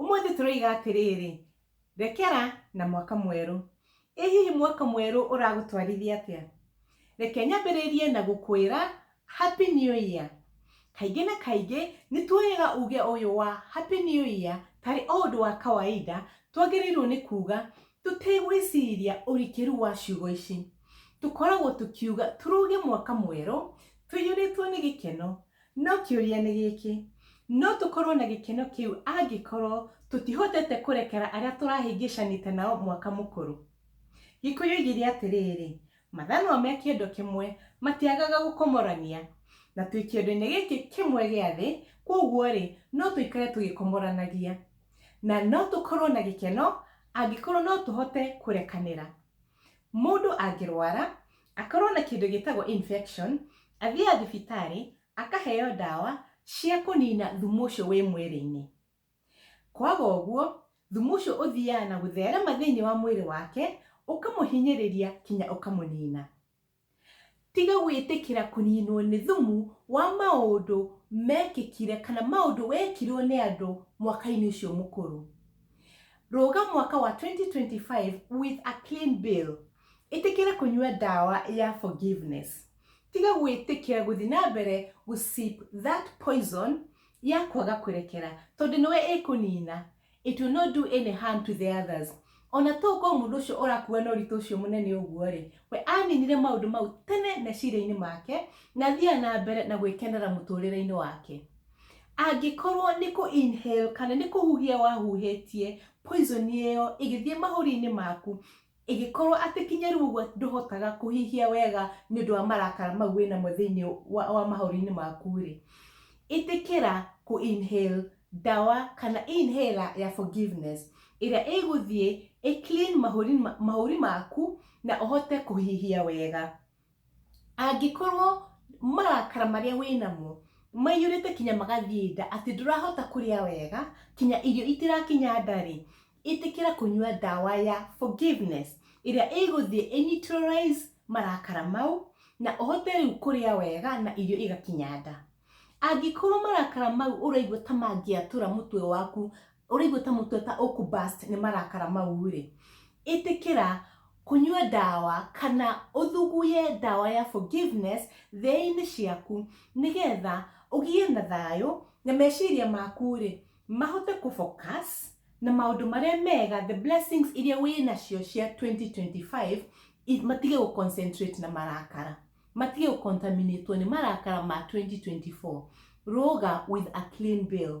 Ũmũthĩ tũroiga atĩrĩrĩ, rekera na mwaka mwerũ. Ĩ hihi mwaka mwerũ ũragũtwarithia atĩa? Reke nyambĩrĩrie na gũkwĩra Happy New Year. Kaingĩ na kaingĩ nĩ tuoyaga uge ũyũ wa Happy New Year tarĩ o ũndũ wa kawaida twagĩrĩirũo nĩ kuuga tũtegwĩciria ũrikĩru wa ciugo ici. Tũkoragwo tũkiuga tũroge mwaka mwerũ tũiyũrĩtwo nĩ gĩkeno No kĩũria nĩ gĩkĩ, No tũkorũo na gĩkeno kĩu angĩkorũo tũtihotete kũrekera arĩa tũrahĩngĩcanĩte nao mwaka mũkũrũ? Gĩkũyũ oigire atĩrĩrĩ, Mathaa no me kĩndũ kĩmwe, matiagaga gũkomorania. Na twĩ kĩondo-inĩ gĩkĩ kĩmwe gĩa thĩ, kwoguo-rĩ, no tũikare tũgĩkomoranagia. Na no tũkorũo na gĩkeno angĩkorũo no tũhote kũrekanĩra. Mũndũ angĩrwara, akorwo na kĩndũ gĩtagwo infection, athiaga thibitarĩ, akaheo ndawa cia kũnina thumu ũcio wĩ mwĩrĩ-inĩ. Kwaga ũguo, thumu ũcio ũthiaga na gũtherema thĩinĩ wa mwĩrĩ wake, ũkamũhinyĩrĩria kinya ũkamũnina. Tiga gwĩtĩkĩra kũninwo nĩ thumu wa maũndũ mekĩkire kana maũndũ wekirwo nĩ andũ mwaka-inĩ ũcio mũkũrũ. Rũga mwaka wa 2025 with a clean bill. Ĩtĩkĩra kũnyua ndawa ya forgiveness. Tiga gwĩtĩkĩra gũthiĩ na mbere gũ sip that poison ya kwaga kũrekera tondũ nĩwe ĩkũnina. It will not do any harm to the others. O na to gũkorũo mũndũ ũcio ũrakuua na ũritũ ũcio mũnene ũguo-rĩ, we aaninire maũndũ mau tene meciria-inĩ make na athiaga na mbere na gwĩkenera mũtũũrĩre-inĩ wake. Angĩkorũo nĩ kũ inhale kana nĩ kũhuhia wahuhĩtie poison ĩyo ĩgĩthiĩ mahũri-inĩ maku, Ĩngĩkorwo atĩ kinya rĩu ũguo ndũhotaga kũhihia wega nĩ ũndũ wa marakara mau wĩ namo thĩinĩ wa, wa mahũri-inĩ maku-rĩ, ĩtĩkĩra kũ inhale ndawa kana inhaler ya forgiveness ĩrĩa ĩgũthiĩ ĩ clean mahũri, mahũri maku na ũhote kũhihia wega. angĩkorwo marakara marĩa wĩnamo maiyũrĩte kinya magathiĩ nda atĩ ndũrahota kũrĩa wega kinya irio itirakinya ndarĩ ĩtĩkĩra kũnyua ndawa ya forgiveness ĩrĩa ĩgũthiĩ ĩ neutralize marakara mau na ũhote rĩu kũrĩa wega na irio igakinya nda. Angĩkorwo marakara mau ũraigua ta mangĩatũra mũtwe waku ũraigua ta mũtwe ta ũkũ burst nĩ marakara mau rĩ, ĩtĩkĩra kũnyua ndawa kana ũthuguye ndawa ya forgiveness thĩ-inĩ ciaku nĩgetha ũgĩe na thayũ na meciria maku rĩ mahote kũ focus na maũndũ marĩa mega the blessings iria wĩ nacio cia 2025 matige gũ concentrate na marakara matige gũ contaminate nĩ marakara ma 2024 rũga with a clean bill